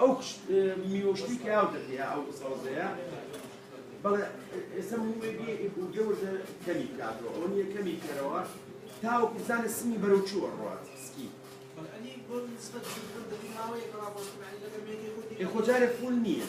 ئەو کچ میوە شتی کە ئاو دەکەیا ئەو سەوزەیە بەڵێ ئێستا موێگی بووگە وردە کەمی کاتەوە ئەو نیە کەمی کەرەوە تاو کوزانە سمی بەرەو چووە ڕات سکی خۆجارە فول نییە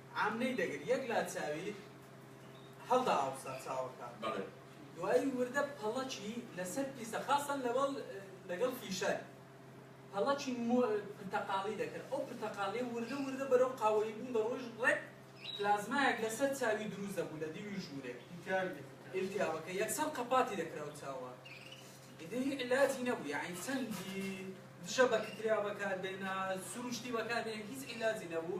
عامنەی دەگرت یەک لا چاوی هەڵدا ئاوسا چاوەکە دوایی وردە پەڵەکی لەسەر پیسە خاسەن لەوەڵ لەگەڵ فیشەر پەڵەکی مۆ پرتەقاڵی دەکرد ئەو پرتەقاڵی وردە وردە بەرەو قاوەیی بوون دەڕۆیش ڕێک پلازمایەک لەسەر چاوی دروست دەبوو لە دیوی ژوورێک ئیلتیاوەکە یەکسەر قەپاتی دەکراو چاوە ئیدی هی علاجی نەبوو یاعین چەندی دژە بەکتریا بەکار بێنا سروشتی بەکار بێن هیچ علاجی نەبوو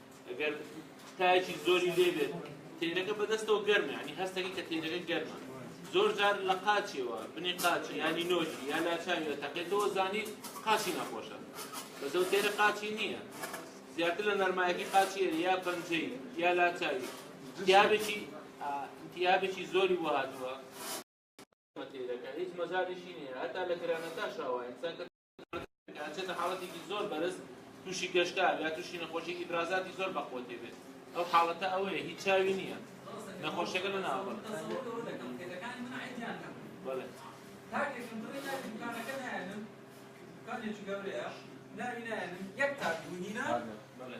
ئەگەر تایەکی زۆری لێ بێت تێنەکە بەدەستەوە گەرمە ینی هەستەکە کە تێنەکە گەرمە زۆر جار لە قاچیەوە بنی قاچی ینی نۆکی یا لاچاویەوە تەقێتەوە زانیت قاچی نەخۆشە بەزەو تێرە قاچی نییە زیاتر لە نەرمایەکی قاچیە یا پەنجەی یا لاچاوی دیابێکی دیابێکی زۆری بۆ هاتووە تێرەکە هیچ مەزاریشی نیە هەتا لە گرانەتا شاوە ئینسان ئەچێتە حاڵەتێکی زۆر بەرز تووشی گەشتار یا تووشی نەخۆشی ئیبرازاتی زۆر بەقوە تێبێت ئەو حاڵەتە ئەوەیە هیچ چاوی نییە نەخۆشەکە لە ناوە بەڵێ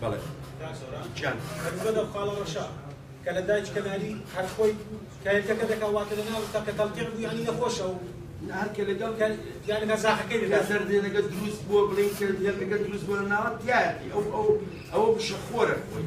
بەڵێ کاک سۆران گیان هەربزۆ لەو خاڵە ڕەشە کە لە دایک کەناری هەر خۆی کایەکەکە دەکا واتە لە ناو تەکە تەڵقیع بوو یانی نەخۆشە و هەر کە لەگەڵ کە یانی لە زاخەکەی لە دەکا زەردێنەکە دروست بووە بڵێین کە یەکەکە دروست بووە لە ناوە تایەتی ئەو ئەو ئەوە بشەخۆرە خۆی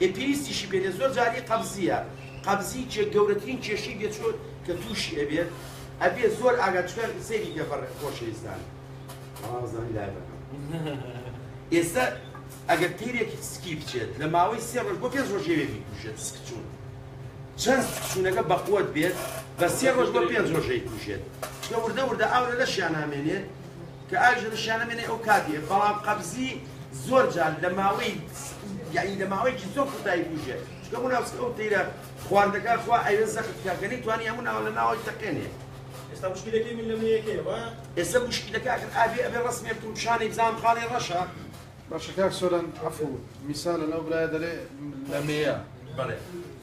ئێ پێویستیشی پێ نیە زۆر جار ئی قەبزیە قەبزی کێ گەورەترین کێشەی بێ چۆن کە توشی ئەبێت ئەبێ زۆر ئاگات چونکە سەیری کە بەڕێ خۆشەویستان بەڵام زانی لای بەکەم ئێستا ئەگەر تیرێک سکی بچێت لە ماوەی سێ ڕۆژ بۆ پێنج ڕۆژ یەوێ بیکوژێت سکچوون چەند سکچوونەکە بەقوت بێت بە سێ ڕۆژ بۆ پێنج ڕۆژەی کوژێت چونکە وردە وردە ئاو لە لەشیان نامێنێت کە ئاویش لە لەشیان نامێنێ ئەو کاتیە بەڵام قەبزی زۆر جار لە ماوەی یانی لە ماوەیەکی زۆر کوتایی بژێت چکە بۆ ناوسکە ئەو تیرە خواردەکە خوا ئەوێ زەخت بکە کە نەیتوانی هەموو ناوە لە ناوەی تەقێنێ ئێستا مشکلەکەی من لەمە یەکەیە وا ئێستا مشکلەکە ئەخر ئاوێ ئەبێ ڕسمێ بکەم پیشانی بزانم خاڵی ڕەشە باشە کاک سۆران عەفو میسالە لەو برایە دەرێ لەمەیە بەڵێ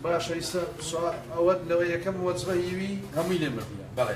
باشە ئیستا سوال ئەوەت لەوە یەکەم وەجبە هیوی هەمووی لێ بردیە بەڵێ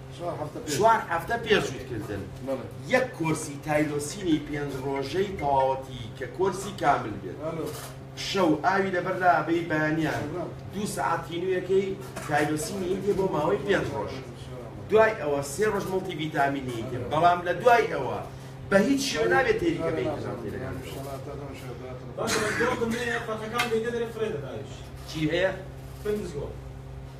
چوار هەفتە پێش جووتکردن یەک کۆرسی تایرۆسینی پێنج ڕۆژەی تەواوەتی کە کۆرسی کامل بێت شەو ئاوی لەبەر لا بەی بەیانیان دوو سەعات تینوویەکەی تایرۆسینی یەکێ بۆ ماوەی پێنج ڕۆژ دوای ئەوە سێ ڕۆژ مڵتی ڤیتامینی یەکێ بەڵام لە دوای ئەوە بە هیچ شێوە نابێت تێریکە بێت چی هەیە؟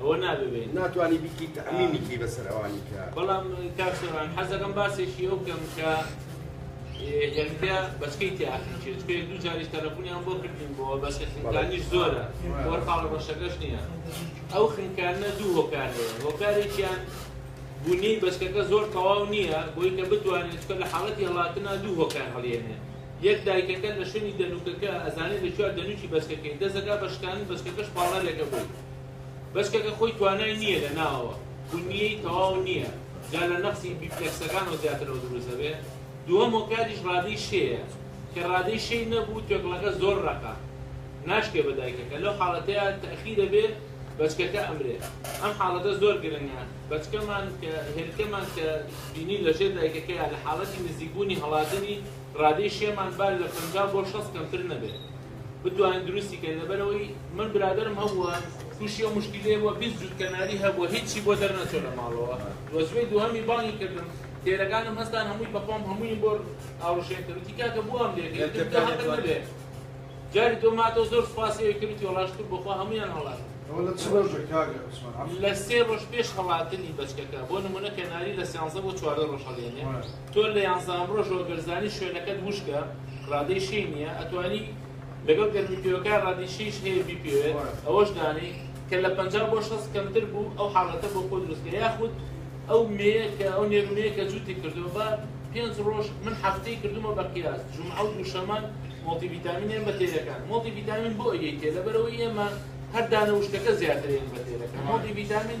ئەوە نابێ ناتوانی بیکی تەعمیمی کی بەسەر ئەوانی کە بەڵام کاک سۆران حەز دەکەم باسێکی ئەو بکەم کە یەکتیا بەچکەی تیاخیچێت پێ دوو جاریش تەلەفۆنیان بۆ کردین بۆ بەس خنکانیش زۆرە بۆ خاڵ ڕەشەکەش نییە ئەو خنکانە دوو هۆکار هۆکارێکیان بوونی بەچکەکە زۆر تەواو نییە بۆی کە بتوانێت چکە لە حاڵەتی هەڵاتنا دوو هۆکار هەڵێنێ یەک دایکەکە لە شوێنی دەنووکەکە ئەزانێ لە کوێیە دەنووکی بەچکەکەی دەست دەکا بە شکاندن بەچکەکەش پاڵنەرێکە بۆی بەچکەکە خۆی توانای نییە لە ناوەوە بنیەی تەواو نییە جا لە نەقسی بیپلەکسەکانەوە زیاترەوە دروست دەبێ دووەم هۆکاریش ڕادەی شێیە کە ڕادەی شێی نەبوو توێکڵەکە زۆر ڕەقە ناشکێ بە دایکەکە لەو حاڵەتەیە تەخیر دەبێ بەچکەکە ئەمرێ ئەم حاڵەتە زۆر گرنگە بەچکەمان کە هێلکەمان کە بینی لەژێر دایکەکەیە لە حاڵەتی نزیکبوونی هەڵاتنی ڕادەی شێمان با لە پەنجا بۆ شەست کەمتر نەبێت بتوانن دروستی کەن لەبەرەوەی من برادەرم هەبووە تووشی ئەو مشکیلەیە بووە بیست جووت کەناری هەبووە هیچی بۆ دەرنەچووە لە ماڵەوە وەزوەی دووهەمی بانگی کردم تێرەکانم هەستان هەمووی بەخۆم هەموویم بۆ ئاوڕشێن کرد وتی کاکە بۆ ئەم لێ کرد تۆ هەقت نەبێ جاری دۆ ماتەوە زۆر سوپاسی ئەوی کرد وتی وەڵا شکور بەخوا هەموویان هەڵات ئەوە لە چ ڕۆژێک کاکە عوسمان عەفوت لە سێ ڕۆژ پێش هەڵاتنی بەچکەکە بۆ نموونە کەناری لە سیانزە بۆ چواردە ڕۆژ هەڵێنێ تۆ لە یانزە ئەمڕۆشەوە گەر زانی شوێنەکەت وشکە ڕادەی شێی نیە ئەتوانی لەگەڵ گەرمی پێوەکە ڕادەی شێیش هەیە بیپێوێت ئەوەش دانێی کە لە پەنجا بۆ شەست کەمتر بوو ئەو حاڵەتە بۆ خۆ دروستکە یاخود ئەو مێیە کە ئەو نێرو مێیە کە جووتی کردووە بە پێنج ڕۆژ من هەفتەی کردوومە بە قیاس جومعە و دووشەمە مۆڵتی ڤیتامین ێەم بە تێرەکان مۆڵتی ڤیتامین بۆ ئەیەی تێ لەبەرەوەی ئێمە هەر دانە وشکەکە زیاترە ێەن بە تێرەکە مۆڵتی ڤیتامین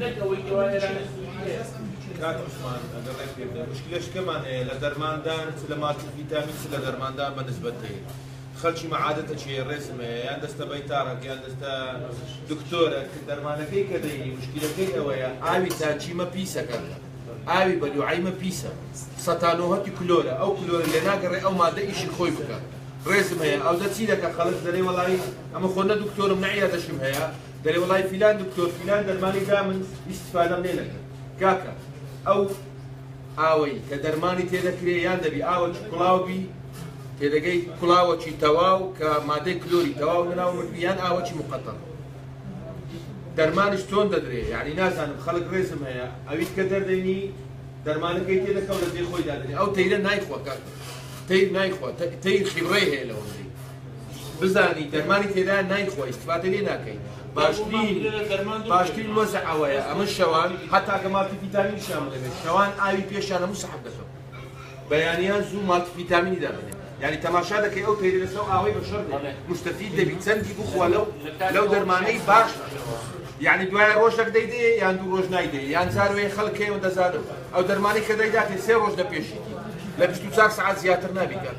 نەک ئەوەی کە وای ئێرانی سوودی هەیە. کاک عوسمان ئەگەر ڕێک پێ بدەن مشکلە شکەمان هەیە لە دەرماندان چ لە مالتی فیتامین چ لە دەرماندان بە نسبەت هەیە خەلکی مەعادەتە چ هەیە ڕێزم هەیە یان دەستە بەیتاڕەک یان دەستە دکتۆرە کە دەرمانەکەی کە دەینی مشکلەکەی ئەوەیە ئاوی تاچیمە پیسە کاک ئاوی بە لوعەیمە پیسە سە تا نۆهەتی کلۆرە ئەو کلۆرە لێ ناگەڕێ ئەو مادە ئیشی خۆی بکات ڕێزم هەیە ئەودە چی دەکا خەلک دەرێ وەڵایی ئەمە خۆ نە دکتۆرم نە عیادەشم هەیە دەلێ وەڵای فیلان دکتۆر فیلان دەرمانی دا من ئیستفادەم لێ نەکرد کاکە ئەو ئاوەی کە دەرمانی تێ دەکرێ یان دەبی ئاوەکی کوڵاو بی تێدەگەی کوڵاوەکی تەواو کە مادەی کلۆری تەواو لەناو مردبی یان ئاوەکی مقەتەر دەرمانش چۆن دەدرێ یعنی نازانم خەڵک ڕێزم هەیە ئەویت کە دەردەینی دەرمانەکەی تێ دەکەو لە جێ خۆی دادەنێ ئەو تەیرە نایخوا کاکە تەیر نایخوا تەیر خیبڕەی هەیە لەوەندەی بزانی دەرمانی تێدا نایخۆیت واتە لێ ناکەی باشترین باشترین وەزع ئەوەیە ئەمە شەوان هەتاکە ماتی پیتامین شیان بڵێ شەوان ئاوی پێشیان هەموو سەحب دەکەم بەیانیان زوو ماتی پیتامینی دادەنێ یعنی تەماشا دەکەی ئەو تەیری لەسەر ئاوەی بە شەر مستەفید دەبی چەندی بخوا لەو لەو دەرمانەی باش یعنی دوای ڕۆژێک دەیدێ یان دوو ڕۆژ نایدێ یان جاروێ خەڵکێ و دەزانم ئەو دەرمانی کە دەیداتێ سێ ڕۆژ دەپێشیتی لە 24 سعات زیاتر نابیکات